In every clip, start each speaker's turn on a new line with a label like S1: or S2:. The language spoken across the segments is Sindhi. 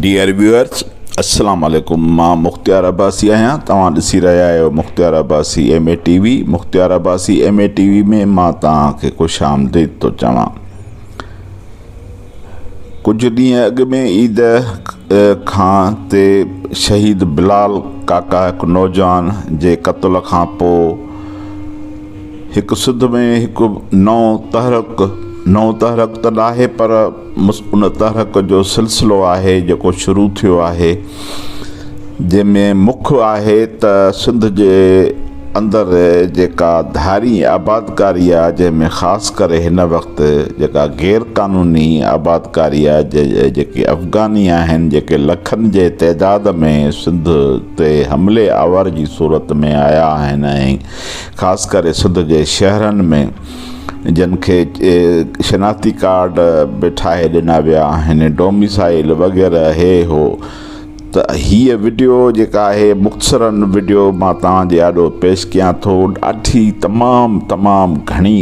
S1: ڊيئر ويوئرز السلام عليڪم مان مختيار عباسي آهيان توهان ڏسي رهيا آهيو Mukhtiar Abbasi M A T V Mukhtiar Abbasi M A T V ۾ مان توهان کي خوش آمديد ٿو چوان ڪجهه ڏينهن اڳ ۾ عيد کان تي شهيد بلال ڪاڪا هڪ نوجوان جي قتل کان پوء هڪ سڌ ۾ هڪ نئون تحرڪ، نئون تحرڪ ته ناهي پر ان تحرڪ جو سلسلو آهي جيڪو شروع ٿيو آهي جنهن ۾ مک آهي ته سنڌ جي اندر جيڪا ڌارين آبادڪاري آهي جنهن ۾ خاص ڪري هن وقت جيڪا غير قانوني آبادڪاري آهي جيڪي افغاني آهن جيڪي لکن جي تعداد ۾ سنڌ تي حملي آور جي صورت ۾ آيا آهن ۽ خاص ڪري سنڌ جي شهرن ۾ جن کي شناختي ڪارڊ به ٺاهي ڏنا ويا آهن ڊوميسائل وغيره هي هو ته هيء وڊيو جيڪا آهي مختصرا وڊيو مان توهان جي آڏو پيش ڪيان ٿو ڏاڍي تمام تمام گهڻي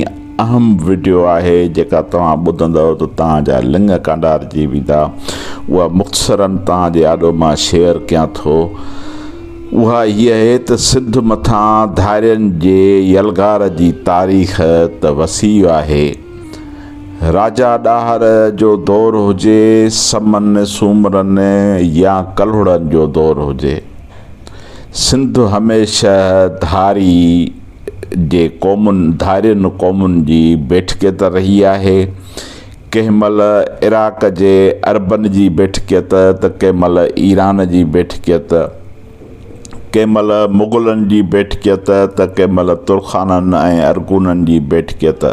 S1: اهم وڊيو آهي جيڪا توهان ٻڌندؤ ته توهان جا لڱ ڪانڊارجي ويندا اها مختصرا توهان جي آڏو مان شيئر ڪيان ٿو اها هيء آهي ته سنڌ مٿان ڌارين جي يلغار جي تاريخ ته وسيع آهي. راجا ڏاهر جو دور هجي، سمن، سومرن يا ڪلهوڙن جو دور هجي، سنڌ هميشه ڌاري جي قومن، ڌارين قومن جي بيٺڪي ته رهي آهي. ڪنهن مهل عراق جي عربن جي بيٺڪيت ته ڪنهن مهل ايران جي بيٺڪيت، ڪنهن مهل مغلن جي بيٺڪيت ته ڪنهن مهل ترخانن ۽ ارغونن جي بيٺڪيت،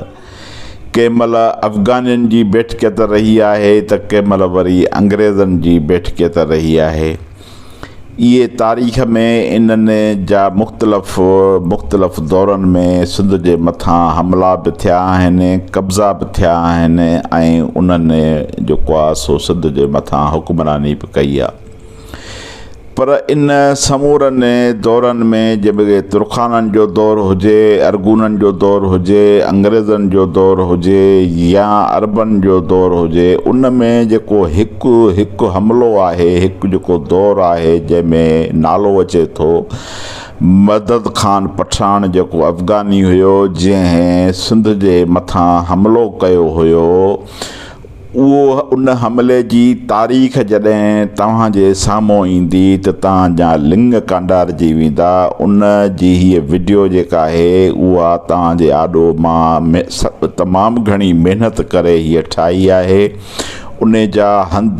S1: ڪنهن مهل افغانين جي بيٺڪيت رهي آهي ته ڪنهن مهل وري انگريزن جي بيٺڪيت رهي آهي. اهي تاريخ ۾ انهن جا مختلف مختلف دورن ۾ سنڌ جي مٿان حملا به ٿيا آهن، قبضا به ٿيا آهن ۽ انهن جيڪو آهي سو سنڌ جي مٿان حڪمراني به ڪئي آهي. پر ان سمورن دورن ۾ جيڪي ترخانن جو دور هجي، ارغونن جو دور هجي، انگريزن جو دور هجي يا عربن جو دور هجي ان ۾ جيڪو هڪ هڪ هڪ حملو آهي، هڪ جيڪو دور آهي جنهن ۾ نالو اچي ٿو مدد خان پٺاڻ جيڪو افغاني هيو جنهن سنڌ جي مٿان حملو ڪيو هيو اهو ان حملي جي تاريخ جڏهن توهان جي سامهون ايندي ته توهان جا لنڱ ڪانڊارجي ويندا ان جي هيء وڊيو جيڪا آهي اها توهان جي آڏو مان تمام گهڻي محنت ڪري هيء ٺاهي آهي انهي جا هنڌ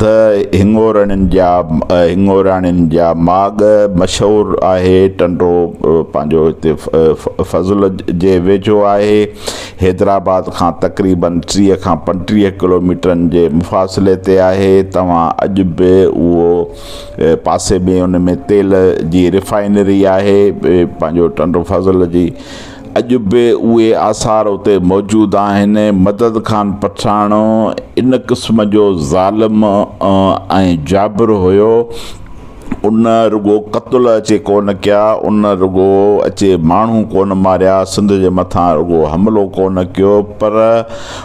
S1: هڱورڻين جا هڱوراڻين جا ماڳ مشهور آهي. ٽنڊو پنهنجو هتي فضل جي ويجهو آهي. حيدرآباد کان تقريباً ٽيهه کان پنٽيهه ڪلوميٽرن جي مفاصلي تي آهي. توهان اڄ به اهو پاسي ۾ ان ۾ تيل جي ريفائنري آهي. پنهنجو ٽنڊو فضل جي اڄ به اهي آثار اتي موجود آهن. مدد خان پٺاڻ ان قسم جو ظالم ۽ جابر هيو. ان رڳو قتل اچي ڪونه ڪيا، ان رڳو اچي ماڻهو ڪونه ماريا، سنڌ جي مٿان رڳو حملو ڪونه ڪيو پر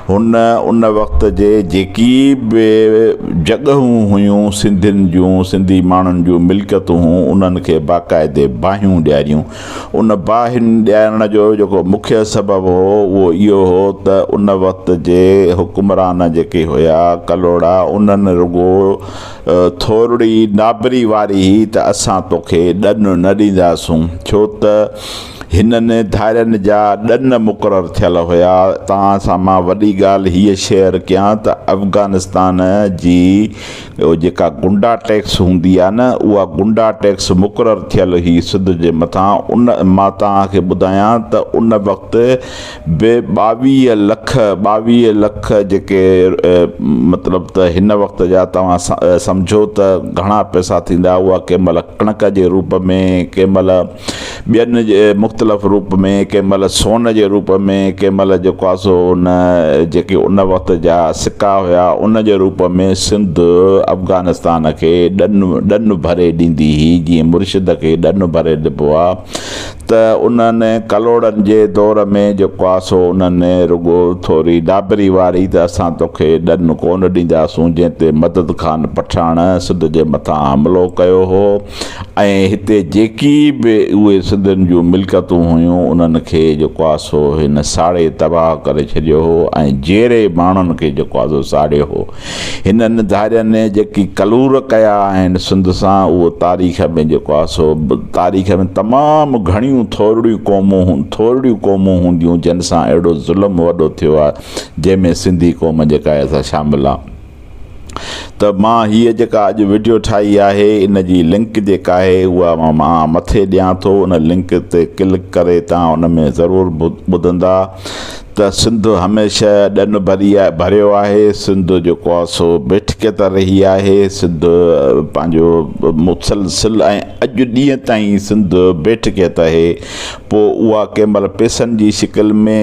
S1: هن ان وقت جي جيڪي به جڳهون هيون سنڌين جون، سنڌي ماڻهن جون ملڪيتون هيون انهن کي باقاعدي باهيون ڏياريون. ان باهن ڏيارڻ جو جيڪو مکيه سبب هو اهو اهو هو ته ان وقت جي حڪمران جيڪي هيا ڪلهوڙا انهن رڳو ٿورڙي نابري واري هئي ته اسان توکي ڏن نه ڏينداسون ڇو ته هنن ڌارين جا ڏن مقرر ٿيل هيا توهان سان مان وڏي ڳالهه هيء شيئر ڪيان ته افغانستان جي ٻيو جيڪا گنڊا ٽيڪس هوندي آ نه اها گنڊا ٽيڪس مقرر ٿيل هئي سنڌ جي مٿان ان مان توهان کي ٻڌايان ته ان وقت به ٻاويهه لک ٻاويهه لک جيڪي مطلب ته هن وقت جا توهان سمجهو ته گهڻا پئسا ٿيندا اها ڪنهن مهل ڪڻڪ جي روپ ۾ ڪنهن مهل ٻين جي مختلف روپ ۾، ڪنهن مهل سون جي روپ ۾، ڪنهن مهل جيڪو آهي سو ان جيڪي ان وقت جا سڪا هيا ان جي روپ ۾ سنڌ افغانستان کي ڏن ڏن ڀري ڏيندي هئي جيئن مرشد کي ڏن ڀري ڏبو آهي ته انهن ڪلهوڙن جي دور ۾ جيڪو آهي سو انهن رڳو ٿوري ڊاڀري واري ته اسان توکي ڏن ڪونه ڏينداسون جنهن تي مدد خان پٺاڻ سنڌ جي مٿان حملو ڪيو هو ۽ هتي جيڪي به اهي سنڌين جون ملڪتون هيون انهن کي جيڪو آ سو هن ساڙي تباهه ڪري ڇڏيو هو ۽ جيري ماڻهن کي جيڪو آ سو ساڙيو هو هنن ڌارين جيڪي ڪلور ڪيا آهن سنڌ سان اهو تاريخ ۾ جيڪو آ سو تاريخ ۾ تمام گهڻيون ٿورڙيون قومون ٿورڙيون قومون هونديون جن سان اهڙو ظلم وڏو ٿيو آ جنهن ۾ سنڌي قوم جيڪا آ سا شامل آ. ته مان هيء جيڪا اڄ وڊيو ٺاهي آهي ان جي لنڪ جيڪا آهي اها مان مٿي ڏيان ٿو ان لنڪ تي ڪلڪ ڪري توهان ان ۾ ضرور ٻڌندا ته سنڌ هميشه ڏن ڀري ڀريو آهي سنڌ جيڪو آهي سو بيٺڪي ته رهي آهي سنڌ پنهنجو مسلسل ۽ اڄ ڏينهن تائين سنڌ بيٺڪي ته اهي پوء اها ڪنهن مهل پئسن جي شڪل ۾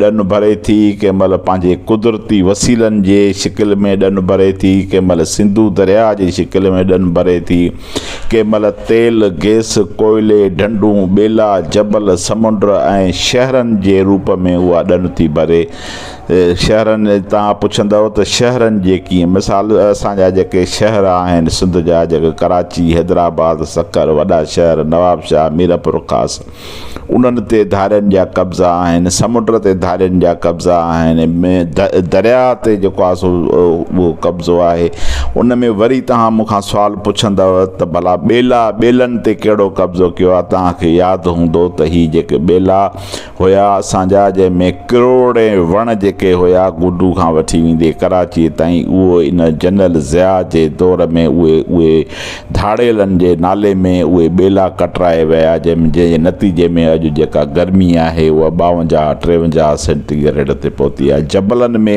S1: ڏن ڀري ٿي، ڪنهن مهل پنهنجي قدرتي وسيلن جي شڪل ۾ ڏن ڀري ٿي، ڪنهن مهل سنڌو درياهه جي شڪل ۾ ڏن ڀري ٿي، ڪنهن مهل تيل، گئس، ڪوئلي، ڍنڍون، ٻيلا، جبل، سمنڊ ۽ شهرن جي روپ ۾ اها ڏن ٿي ڀري. شهرن تان پڇندؤ ته شهرن جي ڪيئن مثال اسان جا جيڪي شهر آهن سنڌ جا جيڪي ڪراچي حيدرآباد سکر وڏا شهر نوابشاهه ميرپورخاص انهن تي ڌارين جا قبضا آهن سمنڊ تي ڌارين جا قبضا آهن دريا تي جيڪو آهي سو اهو قبضو آهي ان ۾ وري تهان مون کان سوال پڇندؤ ته ڀلا ٻيلا ٻيلن تي ڪهڙو قبضو ڪيو آهي تهان کي ياد هوندو ته هي جيڪي ٻيلا هيا اسان جا جنهن ۾ ڪروڙين وڻ جيڪي هيا گڊو کان وٺي ويندي ڪراچيء تائين اهو ان جنرل ضياء جي دور ۾ اهي اهي ڌاڙيلن جي نالي ۾ اهي ٻيلا ڪٽرائي ويا جنهن جي نتيجي ۾ اڄ جيڪا گرمي آهي اها ٻاونجاهه ٽيونجاهه سينٽي گريڊ تي پهتي آهي جبلن ۾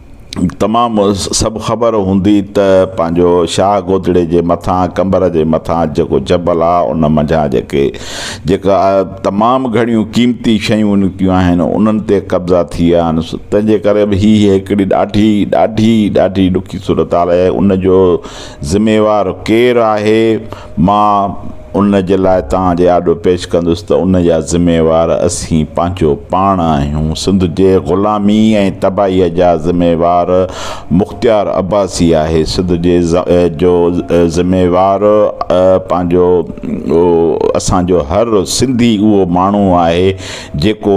S1: تمام سڀ خبر هوندي ته پنهنجو شاهه گودڙي جي مٿان قمبر جي مٿان جيڪو جبل آ ان منجهان جيڪي جيڪا تمام گهڻيون قيمتي شيون نڪتيون آهن انهن تي قبضا ٿي ويا آهن تنهن جي ڪري به هي هڪڙي ڏاڍي ڏاڍي ڏاڍي ڏکي صورتحال آهي ان جو ذميوار ڪير آهي مان ان جي لاء توهان جي آڏو پيش ڪندس ته ان جا ذميوار اسين پنهنجو پاڻ آهيون. سنڌ جي غلامي ۽ تباهيء جا ذميوار مختيار عباسي آهي. سنڌ جي جو ذميوار پنهنجو اسان جو هر سنڌي اهو ماڻهو آهي جيڪو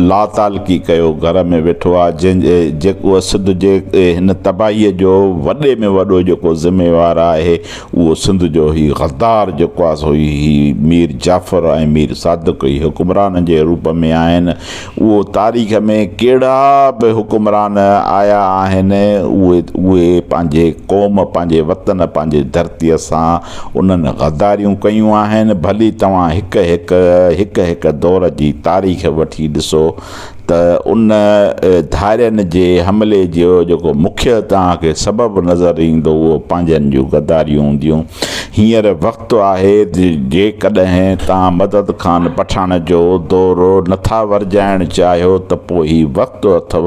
S1: لاتعلقي ڪيو گهر ۾ ويٺو آهي جنهن جيڪو سنڌ جي هن تباهيء جو وڏي ۾ وڏو جيڪو ذميوار آهي اهو سنڌ جو هي غدار جيڪو آ سو هي مير جعفر ۽ مير صادق هي حڪمرانن جي روپ ۾ آهن اهو تاريخ ۾ ڪهڙا به حڪمران آيا آهن اهي اهي پنهنجي قوم پنهنجي وطن پنهنجي ڌرتي سان انهن غداريون ڪيون آهن ڀلي توهان هڪ هڪ هڪ هڪ دور جي تاريخ وٺي ڏسو ته ان ڌارين جي حملي جو جيڪو مکيه توهان کي سبب نظر ايندو اهو پنهنجن جون غداريون هونديون. هينئر وقت آهي ته جيڪڏهن توهان مدد خان پٺاڻ جو دورو نٿا ورجائڻ چاهيو ته پوء هي وقت اٿو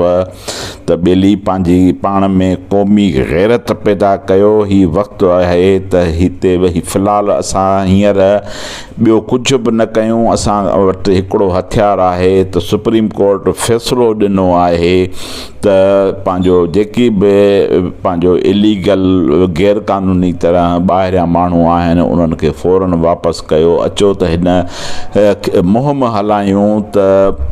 S1: ته ٻيلي پنهنجي پاڻ ۾ قومي غيرت پيدا ڪيو. هي وقت آهي ته هتي ويهي في الحال اسان هينئر ٻيو ڪجهه به نه ڪيون اسان وٽ هڪڙو هٿيار آهي ته سپريم ڪورٽ فيصلو ڏنو آهي ته پنهنجو جيڪي به پنهنجو اليگل غير قانوني طرح ٻاهريان ماڻهو آهن انهن کي فورن واپس ڪيو اچو ته هن مهم هلايون ته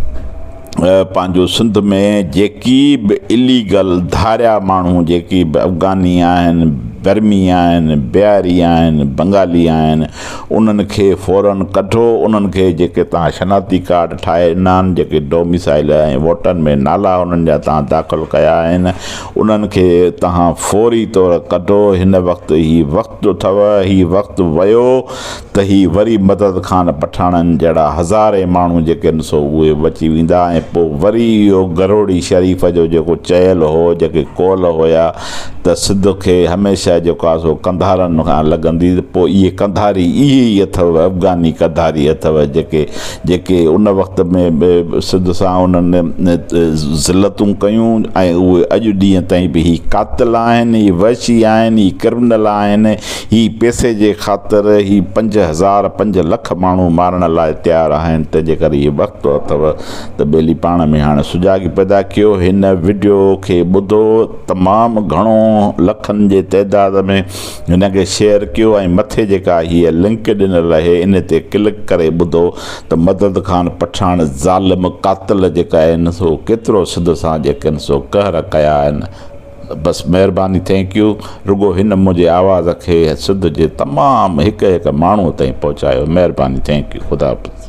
S1: پنهنجو سنڌ ۾ جيڪي به اليگل ڌاريا ماڻهو جيڪي به افغاني آهن برمي آهن بهاري آهن بنگالي آهن انهن کي فورن ڪڍو، انهن کي جيڪي توهان شناختي ڪارڊ ٺاهي ڏنان، جيڪي ڊوميسائيل ۽ ووٽن ۾ نالا انهن جا توهان داخل ڪيا آهن، انهن کي توهان فوري طور ڪڍو، هن وقت هي وقت اٿو، هي وقت ويو ته هي وري مدد خان پٺاڻن جهڙا هزارين ماڻهو جيڪي آهن سو اهي بچي ويندا ۽ پوء وري اهو گروڙي شريف جو جيڪو چيل هو، جيڪي قول هيا. ته سڌ کي هميشه جو ڪا سو قنڌارن کان لڳندي ته پوء اهي قنڌاري اهي ئي اٿئو افغاني قنڌاري اٿئو جيڪي جيڪي ان وقت ۾ به سڌ سان انهن ذلتون ڪيون ۽ اهي اڄ ڏينهن تائين به هي قاتل آهن هي وحشي آهن هي ڪرمنل آهن هي پئسي جي خاطر هي پنج هزار پنج لک ماڻهو مارڻ لاء تيار آهن تنهنجي ڪري اهي وقت اٿئو ته ٻيلي پاڻ ۾ هاڻ سجاڳي پيدا ڪيو هن وڊيو کي ٻڌو تمام گهڻو لکن جي تعداد ۾ هن کي شيئر ڪيو ۽ مٿي جيڪا هيء لنڪ ڏنل اهي ان تي ڪلڪ ڪري ٻڌو ته مدد خان پٺاڻ ظالم قاتل جيڪا آهن سو ڪيترو سڌ سان جيڪن سو قهر ڪيا آهن بس مهرباني ٿينڪ يو رڳو هن منهنجي آواز کي سنڌ جي تمام هڪ هڪ ماڻهو تائين پهچايو مهرباني ٿينڪ يو خدا حافظ.